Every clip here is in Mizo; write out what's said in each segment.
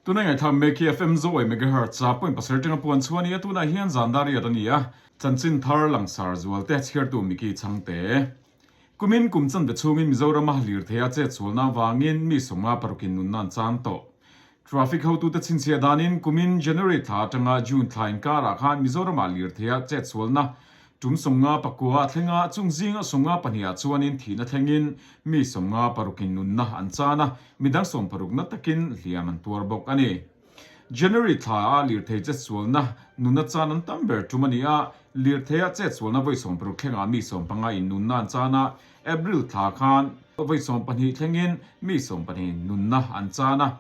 Tuna i ngaithla mek hi FM zawi megahertz a point pasal aṭanga puan chhuah a ni a, tunah hian zandariat a ni a, chanchin thar langsar zual te, chhiartu Mickey Chhang te, kumin kum chanve chhungin Mizorama lirtheia chetsualna avangin mi sawmnga parukhin nunna an chang tawh. Traffic hotute chhinchhiah danin kumin January thla aṭanga June thla inkarah khan Mizorama lirtheia chetsualna Tum sawm nga pakua a thleng a, chung zinga sawm nga pahniha chuanin thihna thlengin mi sawm nga parukin nunna an chan a, midang sawm parukna takin hliam an tuar bawk a ni. January thla a lirthei chetsualna nunna chan an tam ber tum a ni a, lirthei a chetsualna vawi sawm paruk thlengah mi sawm panga in nunna an chan a, April thla khan vawi sawm pahnih thlengin mi sawm pahnih nunna an chan a,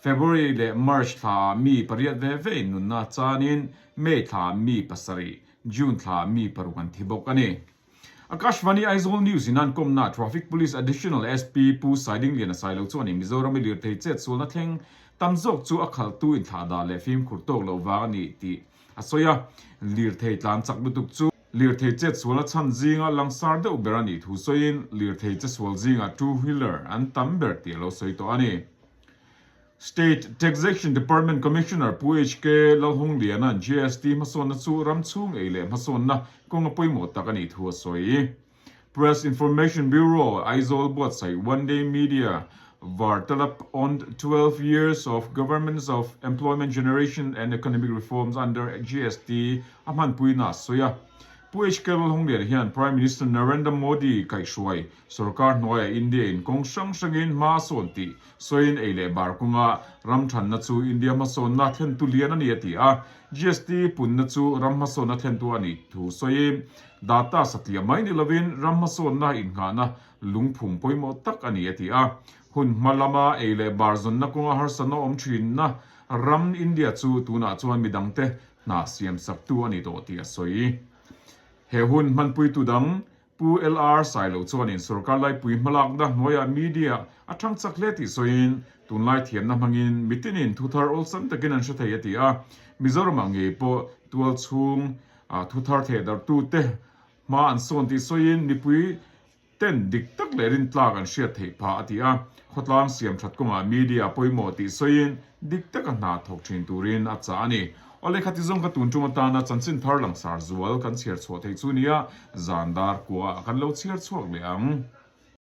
February leh March thla ah mi pariat ve ve in nunna chanin May thla ah mi pasarih June thla mi paruk an thi bawk a ni. Akashvani Aizawl News in an kawmna Traffic Police Additional SP Pu Saidinglian a sailo chuan in Mizoram i lirthei chet sualna thleng tam zawk chu a khaltu in thlah dah leh fimkhur tawk loh vang a ni tih a sawi a, lirthei tlan chak lutuk chu lirthei chet sualna chhan zinga langsar deuh ber a nih thu sawiin lirthei che sual zingah two wheeler an tam ber tih a lo sawi tawh a ni. State Taxation Department Commissioner Pu HK Lalhungliana GST hmasawnna chu ram chhung ei leh hmasawnna kawnga pawimawh tak a nih thu a sawi. Press Information Bureau, Aizawl buatsaih One Day Media, Vartalap on Twelve Years of Governments of Employment Generation and Economic Reforms under GST a hmanpuina a sawi a. Pu HK Lalhungliana hian Prime Minister Narendra Modi kaihhruai sawrkar hnuaiah India-in kawng hrang hrangin hmasawn tih Sawiin ei leh bar kawng a ram thanna chu India hmasawnna thlentu lian a ni a ti a. GST punna chu ram hmasawnna thlentu a nih thu sawi i, data satliah mai ni lovin ram hmasawnna innghahna lungphung pawimawh tak a ni a ti a. Hun hma lama ei leh bar zawnna kawnga harsatna awm thinna ram India chu tunah chuan mi dangte hna siam saktu a ni tawh tih a sawi. He hun hmanpuitu dang Pu LR sai lo chuanin sorkar laipui hmalak dah hnuaiah media a chang chak hle tih sawiin tunlai thiamna hmangin mitinin thu thar awlsam takin an hre thei a ti a. Mizoramah ngei pawh tual chhung thu thar theh darhtute hma an sawn tih sawiin mipui ten dik tak leh rintlak an hriat theih phah a ti a. Khawtlang siam that kawngah media pawimawh tih sawiin dik taka hna thawk thin turin a chah a ni. Aw le khati zawng ka tun ṭum atana chanchin thar langsar zual kan chhiar chhuah thei chu nia, zan dar kuaha kan lo chhiar chhuak leh ang.